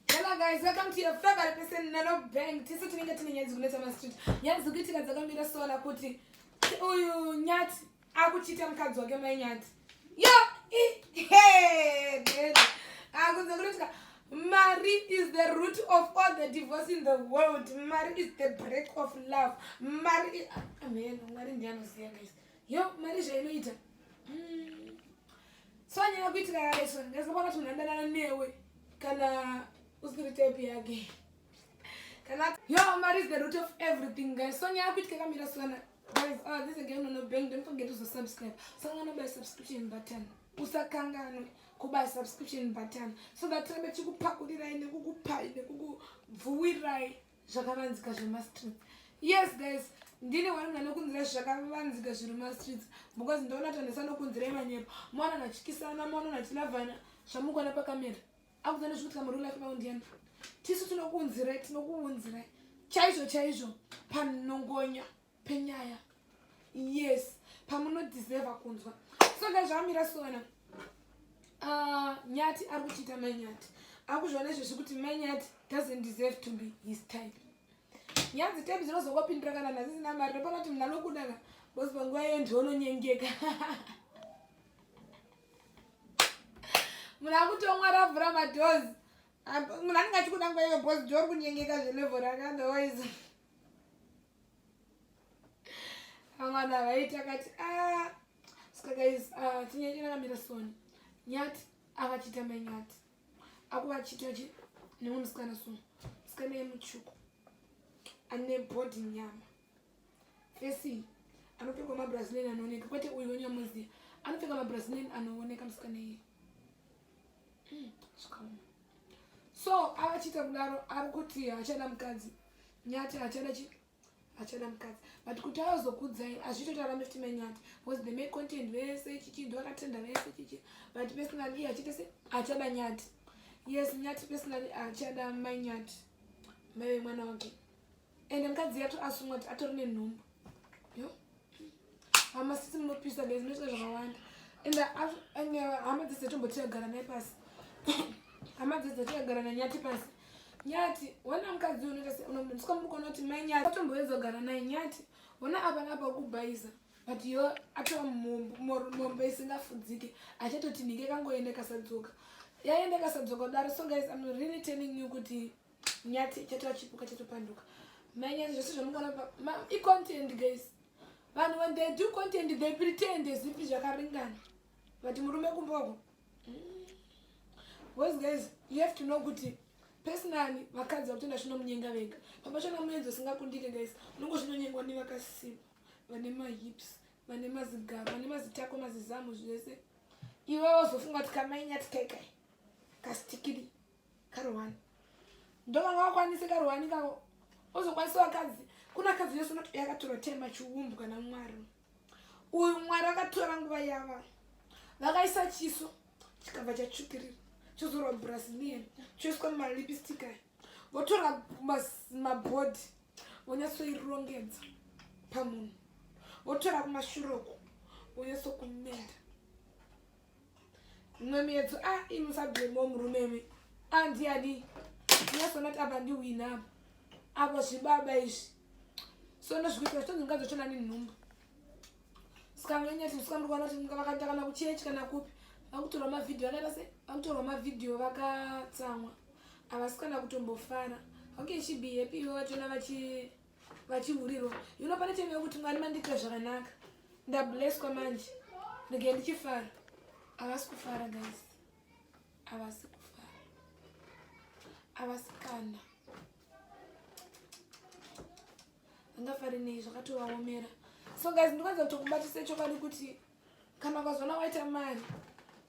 Hello guys, welcome to your favorite person Nano Bang. Tese tinenge tine nyaya dzikunetsa ma street. Nyaya dzikuitika dzakamira sola kuti uyu nyati akuchita mukadzi wake mai nyati. Yo, hey, dede. Akunze kunotika Mari is the root of all the divorce in the world. Mari is the break of love. Mari is... Amen. Mari ndiye anoziva guys. Yo, mari zvainoita. Mm. Sanyanya kuitika kare sona ndazobona kuti munhandanana newe kana usiri type yake kana yo mari is the root of everything guys sonyanya kuitika kamira sona guys oh this again no no bang don't forget to subscribe sangana by subscription button usakanganwe kuba subscription button so that tirambe tikupakurirai nekukupai nekukubvuwirai zvakavanzika zvemastreets yes guys ndine wanana nokunzira zvakavanzika zviri mumastreets because ndoona tanesa nokunzira imanyepo mwana nachikisana mwana nachilavana zvamukuona pakamera akudzana zvikutika muri life maundiyana tisu tinokuunzirai tinokuunzirai chaizvo chaizvo panongonya penyaya yes pamunodeserva kunzwa so dai zvamira sona ah, nyati ari kuchiita mai nyati akuzviona izvo zvekuti mai nyati doesn't deserve to be his type nyanzi type dzinozongopindura kana nhazisina mari ndopana kuti mna nokudaka bcause panguva iyo ndiononyengeka munhu akutomwa ravhura madozi munhu anenge achikuda nguva iyo bcause ndiori kunyengeka zvelevo rakandawaiza Amana vaita kati ah ska guys ah tinyanya kana mira soni nyati akachita mai nyati akuwa chita chi nemwe musikana so musikana yemuchuku ane body nyama fesi anopfekwa mabrazilin anooneka kwete uyu wenyamuziya anopfeka mabrazilin anooneka musikana iye so avachiita kudaro ari kuti hachada mukadzi nyati hachada chi hachada mukadzi but kuti azokudzai hazvitoti arambe kuti manyati bcause the make content vese chichi ndo akatenda vese chichi but personally hachita se hachada nyati yes nyati personally hachada manyati maive mwana wake ende mukadzi yato asungwa kuti atori nenhumbu yo hama sisi munopisa bezi munoita zvakawanda ende ende hama dzese tombotiyagara naye pasi hama dzese tiyagara nanyati pasi nyati wona mukadzi unoita se unomutswa muri kuona kuti mai nyati atomboedza kugara naye nyati wona apa napa kubhaiza but yo atova mombe isingafudzike achatotinhike kangoende kasadzoka yaende kasadzoka kudaro so guys am really telling you kuti nyati ichatora chipuka chatopanduka manyati zvese zvamungaramba icontent guys vanhu when they do content they pretend as if zvakaringana but murume kumboko mm. boys guys you have to know kuti personally vakadzi vakutenda zvinomunyenga vega pamashana muenzi usingakundike guys unongo zvinonyengwa nevakasipa vane mahips vane mazigaro vane mazitako mazizamu zvese iwe wozofunga kuti kamainyati kaikai kastikiri karuwani ndovanga wakwanise karuwani kako ozokwanisa vakadzi kuna kadzi yose unoti yakatora tema chiumbu kana mwari uyu mwari akatora nguva yava vakaisa chiso chikabva chatsvukirira chozorwa brasilian choiswa malipstick aya votora mabhodhi vonyatsoirongedza pamunhu votora kumashuroko vonyatsokumenda mumwe miyedzo a ah, imi musablemo murume mi andiyani nyasonati apa ndiwina apa apa zvibaba izvi sono zvikuita zvitonzi mukadzi wachona nenhumbu sikamanyati sikamuri kuona kuti vakaita kana kuchechi kana kupi vakutorwa mavhidhiyo vakaita se vakutorwa mavhidhiyo vakatsamwa havasi kana kutombofara okay she be happy ivo vachona vachi vachihurirwa yuno pane time yekuti mwari mandiitira zvakanaka ndableswa manje ndege ndichifara havasi kufara guys havasi kufara havasi kana angafari nei zvakatovaomera so guys ndikwanza kutokubatisa chokwadi kuti kana ukazona waita mari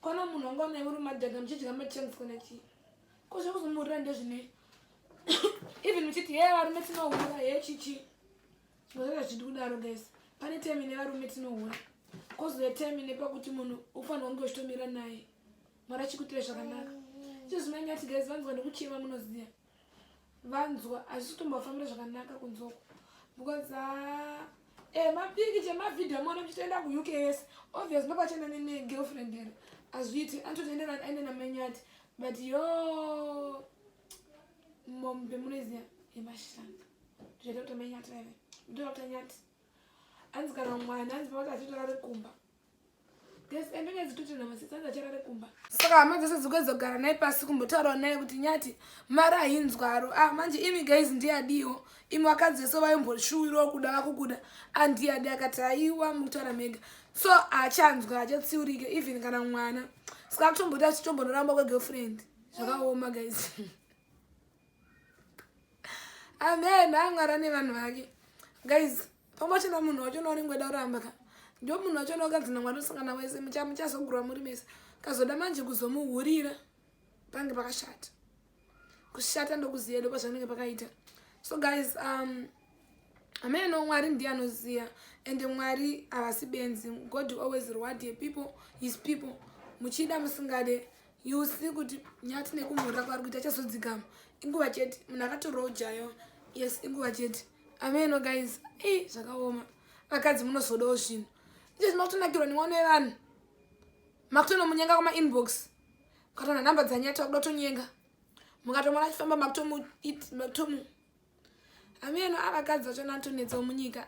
kwana munhu wanga unaiuri madhaga muchidya machangs kana chii ko zvekuzomurira ndezvine even uchiti hee varume tinohura hee chichi zvinozoita zvichidi kudaro guys pane time ine varume tinohura kozove time ine pakuti munhu ufanira kunge uchitomira naye mwari achikuitire zvakanaka icho zvinenge ati guys vanzwa nekuchema munoziva vanzwa hazvisi kutombofambira zvakanaka kunzoko because haa ah, Eh, mapiki chemavideo mwana muchitoenda kuuk yes obvious ndopachenda negirlfriend here azviiti antotoenderani aine namanyati but yo mom bemunoiziva yemashanda zvaita kuti manyati vaive ndoda kuti anyati anzi kana mwana anzi pavati achitara rekumba saka hama dzese dzikuzogara naye pasi kumbotaurawo naye kuti nyati mari hainzwaro a ah, manje imi guys ndiyadiwo imi vakadzi vese vaimboshuwirawo kuda vakukuda andiyadi ah, akati haiwa mukutaura mega so haachanzwa hachatsiurike even kana mwana saka kutomboti achitombondoramba kwegirlfriend zvakaoma guys amen angara nevanhu vake guys pamwe chena munhu wacho unaonenge weda kuramba ka ndo munhu wacho unaokanzina mwari usangana wese muchazogurwa muri mese kazoda manje kuzomuhurira pange pakashata kushata ndokuziya ndo pazvanenge pakaita so guys um amene no mwari ndiye anoziva and mwari havasi benzi god always reward ye people his people muchida musingade you see kuti nyati nekumhurira kwaari kuita chazodzikama inguva chete munhu akatorojayo yes inguva chete ameno guys e zvakaoma vakadzi munozodawo zvinhu ichezvi makutonakirwa nemwana wevanhu makutonomunyenga kumainbox ukatona nhamba dzanyati wakuda kutonyenga mukatomona achifamba makutomu hameno avakadzi vacho natonetsawo munyika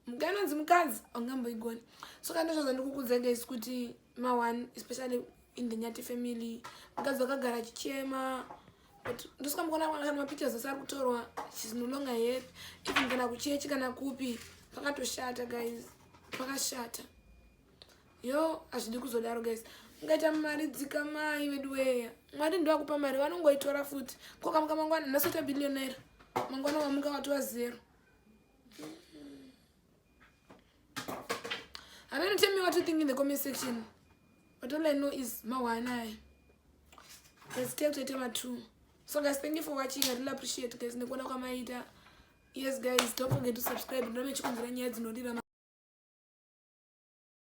muganonzi mukadzi aungamboigoni so kana ndozvaza ndikukudzai guys kuti ma one especially in the nyati family mukadzi wakagara achichema but ndosikamukona kana mapictures ose ari kutorwa shes no longer happy even kana kuchechi kana kupi pakatoshata guys pakashata yo hazvidi kuzodaro guys ungaita mari dzikamai veduweya mwari ndoakupa mari vanongoitora futi kokamuka mangwana nasota billionaire mangwana wamuka watova zero haveno tell me what you think in the comment section but all i know is mawanai let's take to tema two so guys thank you for watching i really appreciate guys nekuona kwamaita yes guys don't forget to subscribe ndomechikunzira nyaya dzinorira